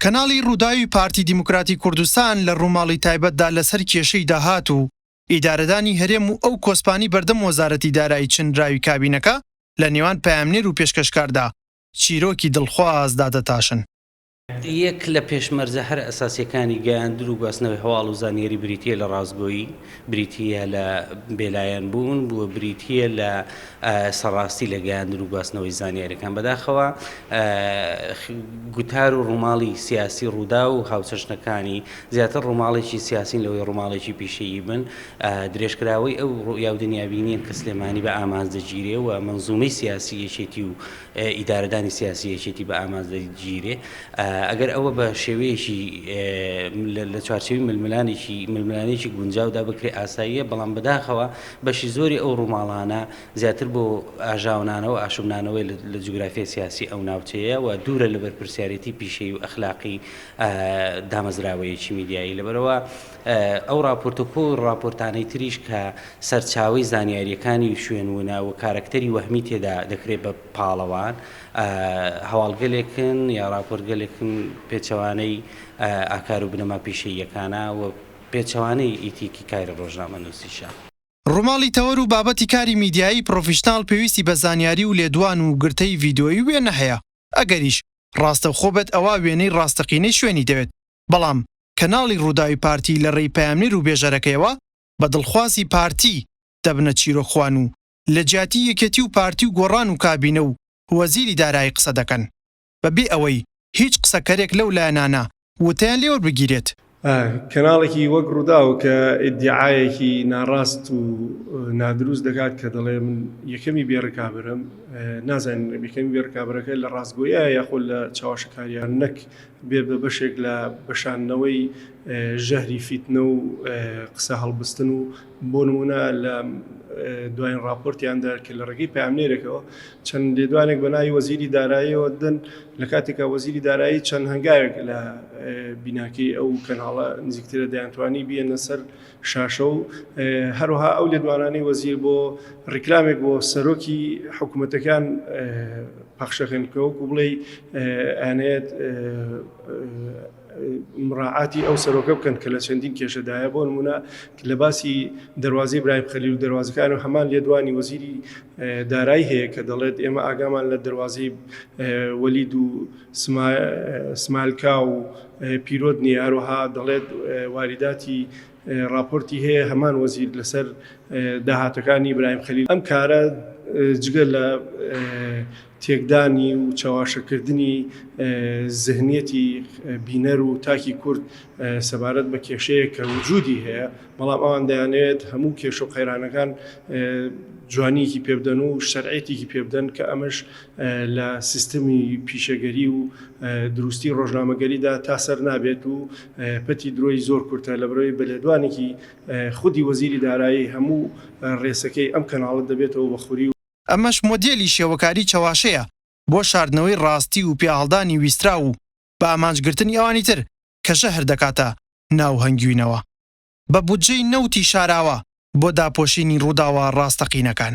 کەناڵی رووداوی پارتی دیموکراتی کوردستان لە رووماڵی تایبەتدا لەسەر کێشەی داهات و ئیدارەدانی هەرێم و ئەو کۆسپانەی بەردەم وەزارەتی دارایی چنراوی کابینەکە لە نێوان پەیامنێر و پێشکەشکاردا چیرۆکی دڵخواز دادەتاشن. یەک لە پێشمەرجە هەرە ئەساسیەکانی گەیاندن و گواستنەوەی هەواڵ و زانیاری بریتیە لە ڕاستگۆیی، بریتی یە لە بێلایەن بوون و بریتی یە لە سەڕاستی لە گەیاندن و گواستنەوەی زانیاریەکان بەداخەوە گوتار و ڕووماڵی سیاسی ڕوودا و هاوچەشنەکانی زیاتر ڕووماڵێکی سیاسین لەوەی ڕووماڵێکی پیشەیی بن درێژکراوەی ئەو ڕویا و دنیابینیە کە سلێمانی بە ئامانج دەگیرێ و مەنزومەی سیاسی یەکێتی و ئیدارەدانی سیاسی یەکێتی بە ئامانج دەگیرێ ئەگەر ئەوە بە شێوەیەکی لە چوارچەوی ململانێکی ململانێکی گونجاودا بکرێ ئاساییە بەڵام بەداخەوە بەشی زۆری ئەو ڕووماڵانە زیاتر بۆ ئاژاونانەوە ئاشوبنانەوەی لە جوگرافیای سیاسی ئەو ناوچەیە و دوورە لە بەرپرسیارەتی پیشەی و ئەخلاقی دامەزراوەیەکی میدیایی لەبەرەوە ئەو ڕاپۆرتە و کۆ ڕاپۆرتانەی تریش کە سەرچاوەی زانیارییەکانی شوێن ونە و کارەکتەری وەهمی تێدا دەکرێت بە پاڵەوان، هەواڵگەلێکن یا ڕاپۆرتگەلێکن پێچەوانەی ئاکار و بنەما پیشەییەکانە و پێچەوانەی ئیتیکی کاری ڕۆژنامەنووسیشە. ڕوماڵی تەوەر و بابەتی کاری میدیایی پرۆفیشناڵ پێویستی بە زانیاری و لێدوان و گرتەی ڤیدۆیی و وێنە هەیە، ئەگەریش ڕاستەوخۆ بێت ئەوا وێنەی ڕاستەقینەی شوێنی دەوێت، بەڵام کەناڵی رووداوی پارتی لە رێی پەیامنێر و بێژەرەکەیەوە بە دڵخوازی پارتی دەبنە چیرۆکخوان و لە جیاتی یەکێتی و پارتی و گۆڕان و کابینە و وەزیری دارایی قسە دەکەن بە بێ ئەوەی هیچ قسەکەرێک لەو لایەنانە وتەیان لێ وەربگیرێت. کەناڵێکی وەک رووداو کە ئیدیعایەکی ناڕاست و نادروست دەکات کە دەڵێ من یەکەمی بێ رکابەرم، نازانین یەکەمی بێ رکابەرەکە لە راستگۆییە یاخۆ لە چاواشەکارییە نەک بێت بە بەشێک لە بەشاندنەوەی ژەهری فیتنە و قسە هەڵبستن و بۆ نمونە لە دوایین راپۆرتیاندا کە لە ڕێگەی پامنێرێکەوە چەند لێدوانێک بە ناوی وەزیری داراییەوە دن لە کاتێکا وەزیری دارایی چەند هەنگاوێک لە بیناکەی ئەو کەناڵە نزیکترە دەیانتوانی بیەنە سەر شاشە و هەروەها ئەو لێدوانانەی وەزیر بۆ ڕیکلامێک بۆ سەرۆکی حکوومەتەکان پەخشەکەن کە وەکو بڵێ ئەنێت مڕعاتی ئەو سەرۆکە بکەن کە لە چەندین کێشەدایە بۆ نمونە لە باسی دەواازی برایم خەلی و دەواازەکان و هەمان لێدوانی وەزیری دارایی هەیە کە دەڵێت ئێمە ئاگامان لە دەواازی وەلید و سمایل کاو پیرۆت نیە هەروەها دەڵێت واریداتی ڕاپۆرتی هەیە هەمان وەزیر لەسەر داهاتەکانی ئیبراهیم خەلیل ئەم کارە جگە لە تێکدانی و چەواشەکردنی زهنیەتی بینەر و تاکی کورد سەبارەت بە کێشەیەک کە وجودی هەیە بەڵام ئەوان دەیانەوێت هەموو کێشە و قەیرانەکان جوانیەکی پێبدەن و شەرعێتیکی پێبدەن کە ئەمەش لە سیستمی پیشەگەری و دروستی ڕۆژنامەگەریدا تا سەر نابێت و پەتی درۆی زۆر کورتە لەبەرەوەی بە لێدوانێکی خودی وەزیری دارایی هەموو ڕێسەکەی ئەم کەناڵە دەبێتەوە بە خوری و ئەمەش مۆدێلی شێوەکاری چەواشەیە بۆ شاردنەوەی ڕاستی و پیاهەڵدانی ویستراو و بە ئامانج گرتنی ئەوانی تر کە ژەهر دەکاتە ناو هەنگوینەوە بە بودجەی نەوتی شاراوە بۆ داپۆشینی ڕووداوە ڕاستەقینەکان.